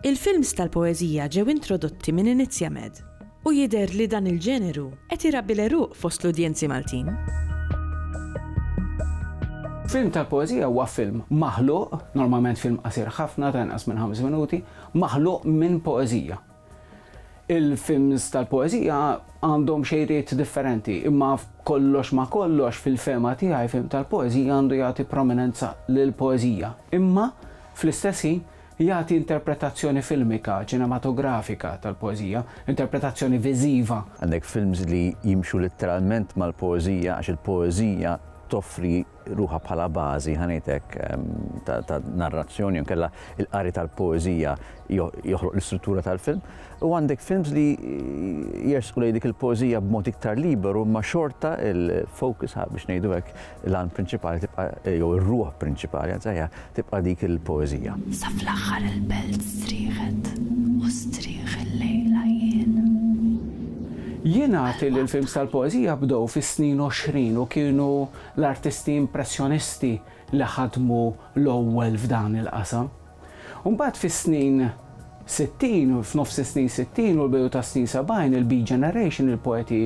Il-films tal-poeżija ġew introdotti minn Inizjamed u jidher li dan il-ġeneru qed irabbi l-għeruq fost l-udjenzi Maltin. Film tal-poeżija huwa film maħluq, normalment film qasir ħafna ta' inqas minn ħames minuti, maħluq minn poeżija. Il-films tal-poeżija għandhom xejriet differenti, imma kollox ma kollox fil-fema tiegħi film tal-poeżija għandu jagħti prominenza lill poeżija Imma fl-istess ħin Jagħti interpretazzjoni filmika, ċinematografika, tal-poeżija, interpretazzjoni viżiva. Għandek films li jimxu litteralment mal-poeżija għax il-poeżija toffri ruħha bħala bażi, ħa ngħid hekk, ta' narrazzjoni jew inkella l-qari tal-poeżija joħloq l-istruttura tal-film. U għandek films li jersqu lejn dik il-poeżija b'mod iktar liberu imma xorta l-focus, biex ngħidu hekk, l-għan prinċipali tibqa' jew ir-ruħ prinċipali għazzajja tibqa' dik il-poeżija. Sa fl-aħħar il-belt strieħet u strieħ il-lejla jien. Jien għati li l-films tal-poeżija bdew fis-snin 20 u kienu l-artisti impressjonisti li ħadmu l-ewwel f'dan il-qasam. U mbagħad fis-snin sittin, f'nofs is-snin sittin u l-bidu tas-snin sebgħin, il-Beat Generation, il-poeti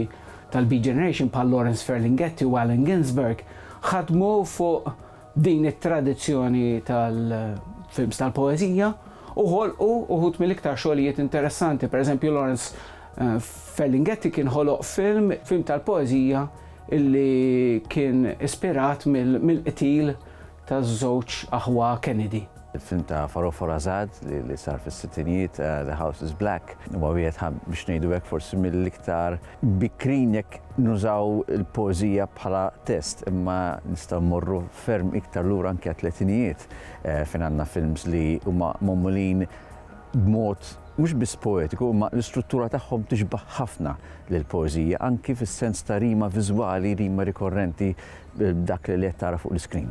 tal-Beat Generation bħal Lawrence Ferlinghetti u Allen Ginsberg ħadmu fuq din it-tradizzjoni tal-films tal-poeżija u ħolqu uħud mill-iktar xogħlijiet interessanti. Pereżempju, Lawrence eh, Ferlinghetti kien ħoloq film, film tal-poeżija illi kien ispirat mill-qtil taż-żewġ aħwa Kennedy. Il-film ta' Farofar Azad li sar fis-sittinjiet, The House Is Black, huwa wieħed ħa biex ngħidu hekk forsi mill-iktar bikrin jekk nużaw il-poeżija bħala test, imma nistgħu mmorru ferm iktar lura anke għat-tletinijiet eh, fejn għandna films li huma magħmulin b'mod mhux biss poetiku, ma l-istruttura tagħhom tixbaħ ħafna lill poeżija anki fis-sens ta' rima viżwali, rima rikorrenti b'dak li qed tara fuq l-iskrin.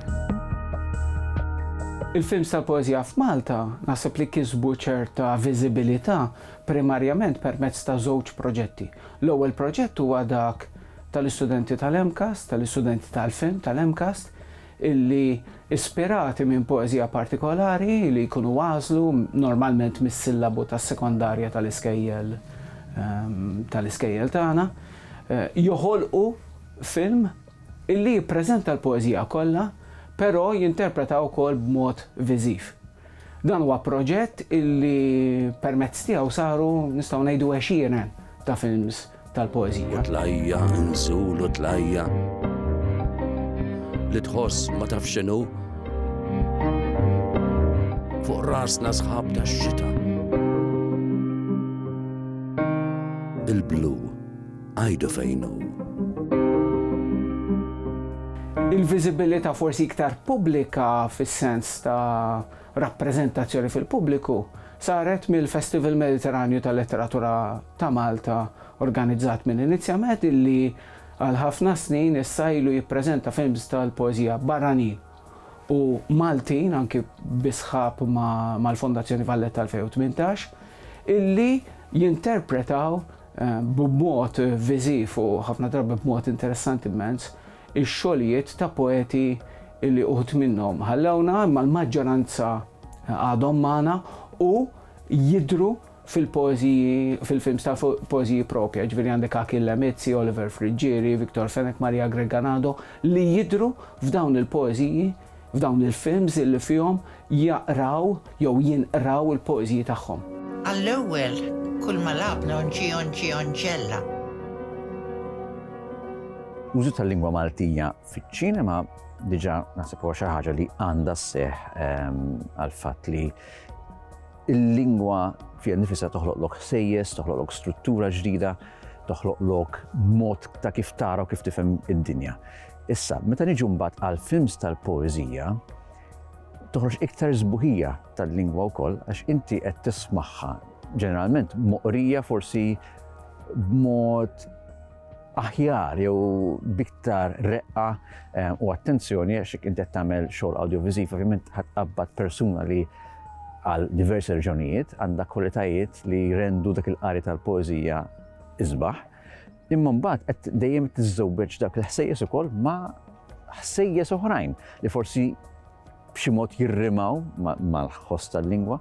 Il-films tal-poeżija f'Malta naħseb li kisbu ċerta viżibilità primarjament permezz ta' żewġ proġetti. L-ewwel proġett huwa dak tal-istudenti tal-MCAST, tal-istudenti tal-film tal-MCAST, illi ispirati minn poeżija partikolari li jkunu għażlu normalment mis-sillabu tas-sekondarja tal-iskejjel tal-iskejjel tagħna, joħolqu film. Illi jippreżenta l-poeżija kollha, però jinterpretha wkoll b'mod viżiv. Dan huwa proġett illi permezz tiegħu saru, nistgħu ngħidu, għexieren ta' films tal-poeżija. Tlajja' nżul u tlajja' li tħoss ma tafx x'inhu fuq rasna sħab tax-xita. Il-blu. Għidu fejn hu. Il-viżibilità forsi iktar pubblika fis-sens ta' rappreżentazzjoni fil-pubbliku saret mill-Festival Mediterranju tal-Letteratura ta' Malta organizzat minn Iniziamed illi għal ħafna snin issa ilu jippreżenta films tal-poeżija barranin u Maltin anki bi sħab mal-Fondazzjoni Valletta 2018 illi jinterpretaw b'mod viżiv u ħafna drabi b'mod interessanti immens, ix-xogħlijiet ta' poeti li uħud minnhom ħallewna imma l-maġġoranza għadhom magħna u jidhru fil-poeżiji, fil-films tal-poeżiji proprja, jiġifieri għandek Achill Lemizzi, Oliver Friggieri, Victor Fenech, Maria Greganado li jidhru f'dawn il-poeżiji, f'dawn il-films li fihom jaqraw jew jinqraw il-poeżiji tagħhom. Għall-ewwel, kull ma lagħabna onġieonġieonġella. L-użu tal-lingwa Maltija fiċ-ċinema diġà naħseb huwa xi ħaġa li għandha sseħħ ehm, għal fatt li il-lingwa fija nifisa toħloq lok sejjes, toħloq lok struttura ġdida, toħloq lok mod ta' kif tara u kif tifhem id-dinja. Issa, meta niġu mbagħad għal films tal-poeżija, toħroġ iktar żbuħija tal-lingwa wkoll għax inti qed tismagħha ġeneralment moqrija forsi b'mod aħjar jew biktar reqqa eh, u attenzjoni għax inti qed tagħmel xogħol audiovisiv ovvjament ħadd qabad persuna li għal diversi reġjonijiet għandha kwalitajiet li jrendu dak il-qari tal-poeżija isbaħ Imma mbagħad qed dejjem tiżżewweġ dak il-ħsejjes ukoll ma' ħsejjes oħrajn li forsi b'xi mod jirrimaw mal-ħoss tal-lingwa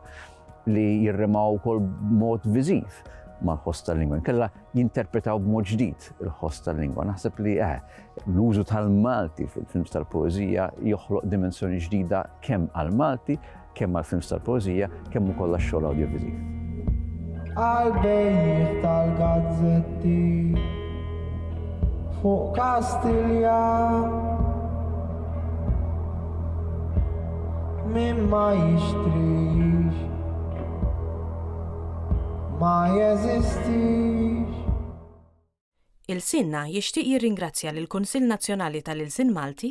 li jirrimaw ukoll b'mod viżiv mal-ħoss tal-lingwa. Kella jinterpretaw b'mod ġdid il-ħoss tal-lingwa. Naħseb li eh, l-użu tal-Malti fil-films tal-poezija joħloq dimensjoni ġdida kemm għal-Malti kemm għall-films tal-poeżija kemm ukoll għax-xogħol awdjoviżiv. Għal-bejjiħ tal-gazzetti fuq Kastilja min ma jixtrix ma jeżistix Il-Sinna jixtieq jirringrazzja lill-Kunsill Nazzjonali tal-Ilsien Malti